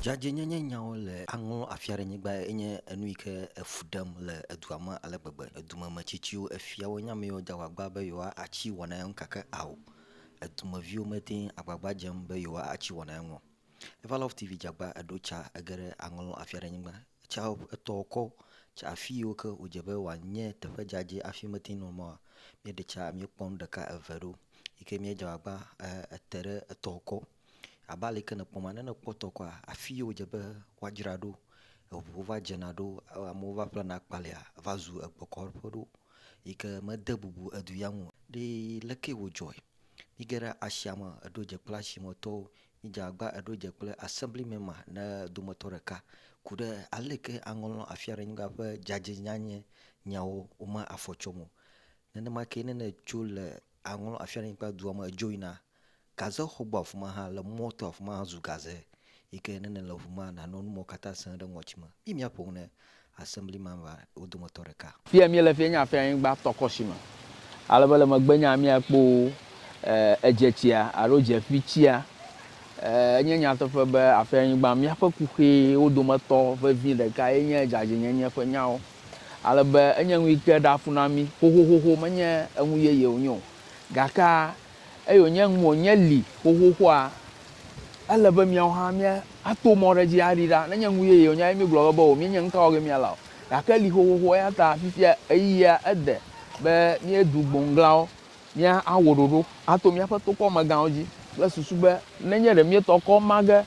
Dzadzɛnyenye nyawo le aŋɔ afi aɖe nyigba enye enu yi ke efu ɖem le edua me ale gbegbe. Edumemetsitsiwo, efiawo nye ame yiwo de agbagba be yewoatsi wɔna ya ŋu gake ao edumeviwo mete ŋu agbagba dzem be yewoatsi wɔna ya ŋu o. Evalɔf TV Dzagba eɖo tsa ege ɖe aŋɔ lɔ afi aɖe nyigba Etsɔ etɔ wòkɔ tso afi yiwo ke wòdze be wòanye teƒe dzadzɛ hafi mete ŋu nɔ mɔ oa, míeɖe tsa míekpɔ nu ɖeka eve ɖo yi ke míedze agbagba ete ɖe etɔ wòkɔ. Abe ale yi ke nèkpɔm ene, ne nèkpɔ etɔ wòkɔa, afi yi wòdze be woadzra ɖo, eŋuwo va dzena ɖo, amewo va ƒlena akpalia, eva zu egbekɔɖoƒe ɖo yi ke mede bubu edu ya ŋu o. Ɖe leke wòdzɔe? Míege ɖe asia me, eɖo dze kple asimetɔwo Midze agba eɖo dze kple Assembly Mema ne dometɔ ɖeka ku ɖe aleke aŋlɔ afiaɖenyigba ƒe dzadzɛnyanye nyawo wome afɔ tsɔm o. Nenema kee ne nètso le aŋlɔ afiaɖenyigba dua me edzo yina gaze xɔgbɔ afi ma hã le mɔto afi ma hã zu gaze yike ne nèle ŋu ma nanɔ numɔkatã sẽ ɖe ŋɔtime. Yi miaƒo ŋu ne Assembly Member wo dometɔ ɖeka. Fia míele fia nye afia anyigba tɔkɔshi me ale be le megbenya mía kpo edzetsia alo dzeƒi tsia. Enye nyateƒe be afia anyigba míaƒe kuxee wo dometɔ vevi ɖeka ye nye dzadzɛnyenye ƒe nyawo ale be enye ŋuyike ɖea fu na mí xoxoxoxo menye eŋu yeye wonye o gake Eye wònye ŋu wònye li xoxoxoa, ele be miawo hã miato mɔ ɖe edzi aɖi ɖa. Nenye ŋu yeye wònye hafi míegblɔ be o, míenye ŋutɔwo ke míala o. Gake eli xoxoxo eya ta fifia ɣeyiɣia ede be míedu gboŋglawo, míawɔ ɖoɖo ato míaƒe tokɔmegãwo dzi kple susu be nenye ɖe míetɔ kɔ ma ge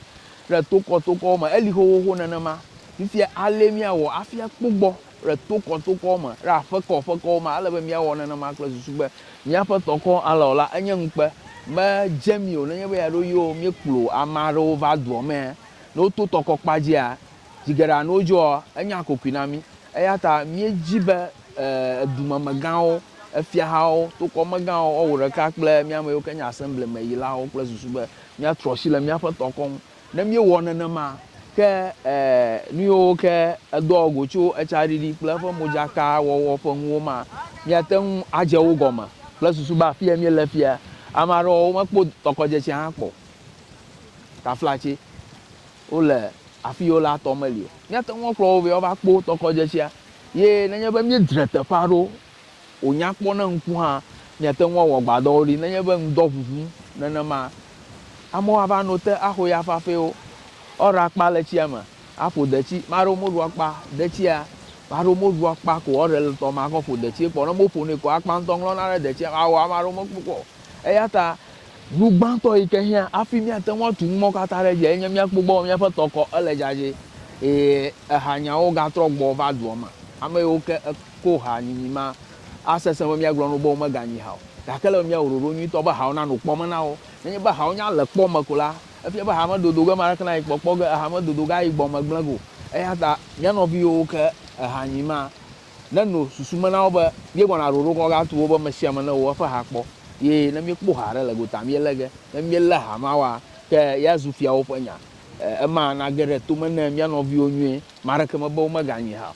ɖe tokɔtokɔwo me, eli xoxoxo nenema fifia alé míawɔ hafi akpɔ gbɔ. le tokɔtokɔwo me, le aƒekɔaƒekɔwo me. Ele be míawɔ nenema kple susu be míaƒe tɔkɔ alé o la, enye ŋukpe. Medze mí o nenye be yɛaɖo yo míekplɔ ame aɖewo va dua mea, ne woto tɔkɔkpa dzia, zi geɖe alo ne wodzɔa, enye akokoe na mí. Eya ta míedi be dumemegãwo, fiahawo, tokɔmegãwo, woawɔ ɖeka kple mía ame yiwo ke nye Asemblimeyilawo kple susu be míatrɔ asi le míaƒe tɔkɔ ŋu Ne míewɔ nenema, ke nuyiwo ke edɔ go tso etsaɖiɖi kple eƒe modzakawɔwɔ ƒe ŋu woma, míate ŋu adze wo gɔme kple susu be afiye míele fia. Ame aɖewo womekpɔ tɔkɔdzetsia hã kpɔ o. Taflatse, wole afi yi wolea tɔ meli o. Míate ŋu akplɔ wo be woava kpɔ tɔkɔdzetsia. Ye nenye be míedzre teƒea ɖo, Wònya kpɔ ne ŋku hã miate ŋu awɔ gbadɔwo ɖi nenye be ŋdɔ ʋuʋum nenema. Amewo ava no te axo ya fafɛwo, woaɖo akpa le tsia me aƒo detsi. Ame aɖewo meɖo akpa detsia, ame aɖewo meɖo akpa ko woaɖe le tɔme akɔ ƒo detsie kpɔ o. Ne womeƒonɛ kɔ akpa ŋutɔ ŋlɔna ɖe detsia me awɔ ame aɖewo mekpɔ kpɔ o. Eya ta nu gbãtɔ yi ke hiã hafi míate ŋu atu numɔwo katã ɖe edzia enye míakpɔ egbɔ be míaƒe tɔ kɔ, ele dzadzɛ eye ehanyawo gatrɔ gbɔ va dua me. Ame yiwo ke. ko ha nyinyi ma. Asesẽ be míagblɔ na wo be womeganyi ha o, gake ele be míawɔ ɖoɖo nyuitɔ be hawo nanɔ kpɔ me na wo. Nenye be hawo nya le kpɔ me ko la, efia be ha medodo ge ame aɖeke nayi kpɔ kpɔ ge, eha medodo ge ayi gbɔ me gblẽ ge o. Eya ta mía nɔvi yiwo ke eha nyi ma neno susu me na wo be míegɔna ɖoɖo kɔ gatu wo be ame sia ame newɔ eƒe ha kpɔ ye ne míekpɔ ha aɖe le gota míelé ge. Ne míelé ha ma wɔa, ke ya zu fiawo ƒe nya. Ema nage ɖe to me ne mía nɔviwo nyuie. Ame aɖeke mebe womeganyi ha o.